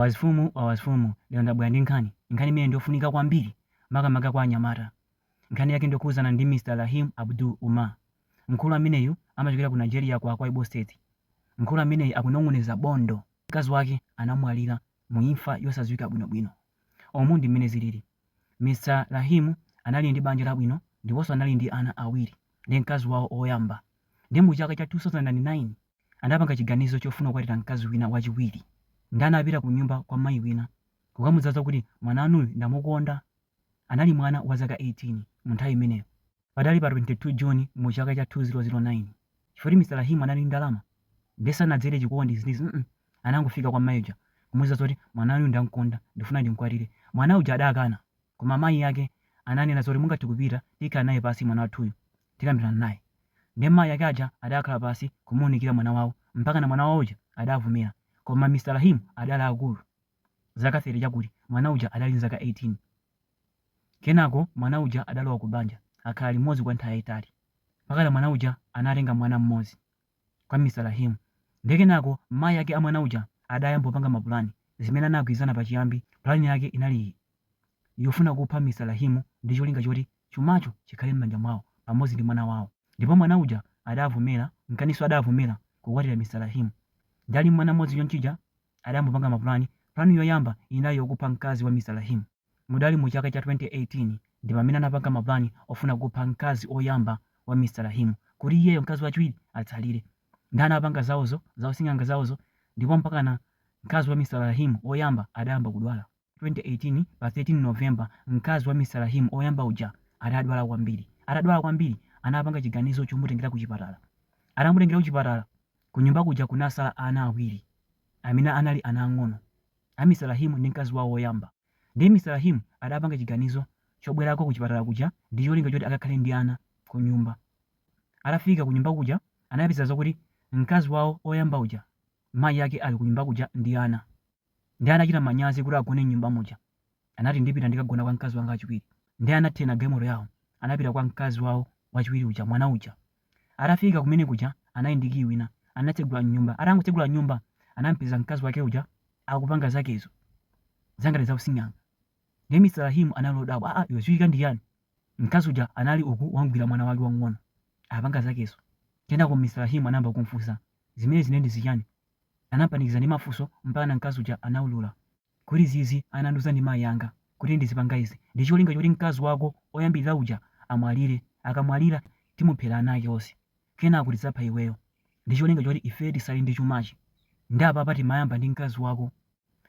Wazifumu wa wazifumu lero ndabwera ndi nkhani, nkhani imene ndiyofunika kwambiri makamaka kwa anyamata. Nkhani yake ndiyokhudzana ndi Mr Raheem Abdul Umar. Mkulu ameneyu amachokera ku Nigeria ku Akwa Ibo State. Mkulu ameneyu akunong'oneza bondo. Mkazi wake anamwalira mu imfa yosadziwika bwinobwino. Umu ndi mmene zilili. Mr Raheem anali ndi banja labwino ndiponso anali ndi ana awiri ndi mkazi wawo oyamba. Ndiye mu chaka cha 2009. anapanga chiganizo chofuna kukwatira mkazi wina wachiwiri. Nde anapita kunyumba kwa mayi wina kukamuuza zakuti mwana wanuyu ndamukonda. Anali mwana wa zaka 18 mu nthawi imeneyo. Padali pa 22 June mu chaka cha 2009. Chifukwa choti Mr Rahim anali ndi ndalama nde sanadzere chikondi izi ndi izi mm anangofika kwa mayi uja kumuuza zakuti mwana wanuyu ndamkonda ndikufuna ndimkwatire. Mwana uja adakana koma mayi ake ananena zoti mungathe kupita tikhala naye pasi mwana wathuyu tikambilana naye. Nde mayi ake aja adakhala pasi kumuunikila mwana wawo mpakana mwana wawo uja adavomela koma Mr Rahim adali akulu zaka 30 chakuti mwana uja adali ndi zaka 18. Kenako mwana uja adalowa ku banja akhala limodzi kwa nthawi yaitali mpakana mwana uja anatenga mwana mmodzi. kwa Mr Rahim nde kenako mayi ake a mwana uja adayamba kupanga mapulani zimene anagwirizana pachiyambi plan yake inali iyi yofuna kupha Mr Rahim ndi cholinga choti chumacho chikhale mmanja mwawo pamodzi ndi mwana wawo ndipo mwana uja adavomera nkanaso adavomera kukwatira Mr Rahim nde ali mmwana mmodzi chonchija adayamba kupanga mapulani plan yoyamba inali yokupha mkazi wa Mr Rahim Mudali mu chaka cha 2018 ndi pamene anapanga ma plan ofuna kupha mkazi oyamba wa Mr Rahim kuti iyeyo mkazi wachiwiri atsalire nde anapanga zaozo za using'anga zaozo ndipo mpakana mkazi wa Mr Rahim oyamba adayamba kudwala 2018 pa 13 November mkazi wa Mr Rahim oyamba uja adadwala kwambiri atadwala kwambiri anapanga chiganizo chomutengera kuchipatala atamutengera kuchipatala kunyumba kuja kunasala ana awiri amene anali ana ang'ono A Mr Rahim ndi mkazi wawo woyamba. Ndiye Mr Rahim adapanga chiganizo chobwerako kuchipatala kuja ndi cholinga choti akakhale ndi ana kunyumba. Atafika kunyumba kuja anapeza zakuti mkazi wawo oyamba uja mayi ake ali kunyumba kuja ndi ana. Ndiye adachita manyazi kuti agone mnyumba muja. Anati, Ndipita ndikagona kwa mkazi wanga wachiwiri. Ndiye anatenga galimoto yawo, anapita kwa mkazi wawo wachiwiri uja, mwana uja. Atafika kumene kuja, anali ndi kiyi wina, anatsegula mnyumba. Atangotsegula mnyumba, anampeza mkazi wake uja akupanga zakezo, zangati za using'anga. Ndiye Mr Rahim anali odabwa, Aa, iwe zuchitika ndi chiyani? Mkazi uja anali uku wamgwira mwana wake wamng'ono, apanga zakezo. Kenako Mr Rahim anayamba kumfunsa, Zimenezi ndiye ndi zichani? Anampanikiza ndi mafunso mpakana mkazi uja anaulula. Kuti zinazi anandiuza ndi mayi anga kuti ndizipanga izi ndicholinga choti mkazi wako oyambilira uja amwalire, akamwalira timuphere ana ake onse kenako tidzapha iweyo ndicholinga choti ifeyo titsale ndi chumachi nde apapa timayamba ndi mkazi wako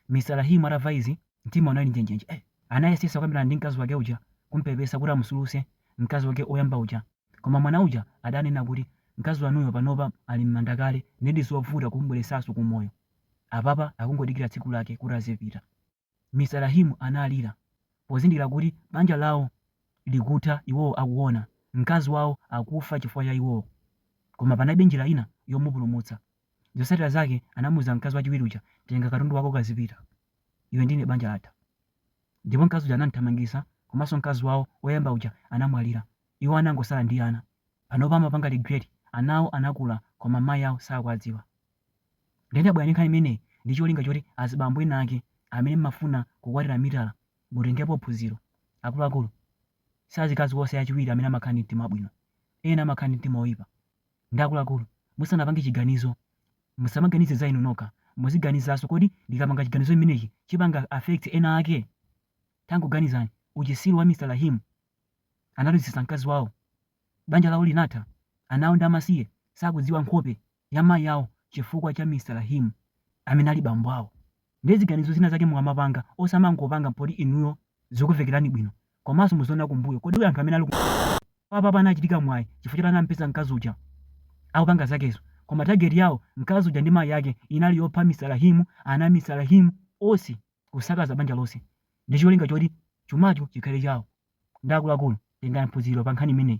Mr Rahim atava izi mtima unali njenjenje anayesetsa kukambirana ndi mkazi wake uja kumpepesa kuti amutsulutse mkazi wake oyamba uja Koma mwana uja adanena kuti, Mkazi wanuyo panopa ali m'manda kale, ndiye ndizovuta kumubweretsanso ku moyo. Apapa akungodikira tsiku lake kuti azipita. Mr Rahim analira pozindikira kuti banja lawo likutha iwowo akuona, mkazi wawo akufa chifukwa cha iwowo. Koma panalibe njira ina yomupulumutsa. Zotsatira zake anamuuza mkazi wachiwiri uja, Tenga katundu wako ukazipita. Iwe ndi ine banja latha. Ndipo mkazi uja anam'thamangisa komanso mkazi wawo oyamba uja anamwalira. Iwo anangotsala ndi ana. Panopa amapanga regret. Anawo anakula koma mayi awo sakuwadziwa. Ndiye ndabwera ndi nkhani imeneyi ndi cholinga choti azibambo ena ake amene m'mafuna kukwatira mitala mutengepo phunziro. Akuluakulu, si azikazi onse achiwiri amene amakhala ndi mtima wabwino. Ena amakhala ndi mtima woipa. Ndiye akuluakulu musanapange chiganizo. Musamaganize za inu nokha, muziganizanso kodi ndikapanga chiganizo chimenechi chipanga affect ena ake? Tangoganizani uchitsiru wa Mr Rahim analuzitsa mkazi wawo, banja lawo linatha, ana awo ndi amasiye sakudziwa nkhope ya mayi awo chifukwa cha Mr Rahim amene ali bambo awo. Nde ziganizo zina zake mukamapanga osamangopanga poti inuyo zikumvekerani bwino komanso muziona kumbuyo kodi anthu amene ali kumbuyo apapa anachita mwayi chifukwa choti anamupeza mkazi uja akupanga zakezo koma target yawo mkazi uja ndi mayi ake inali yopha Mr Rahim ana a Mr Rahim onse kusakaza banja lonse ndicholinga choti chumacho chikhale chawo nde akuluakulu tengani phunziro pankhani imeneyi.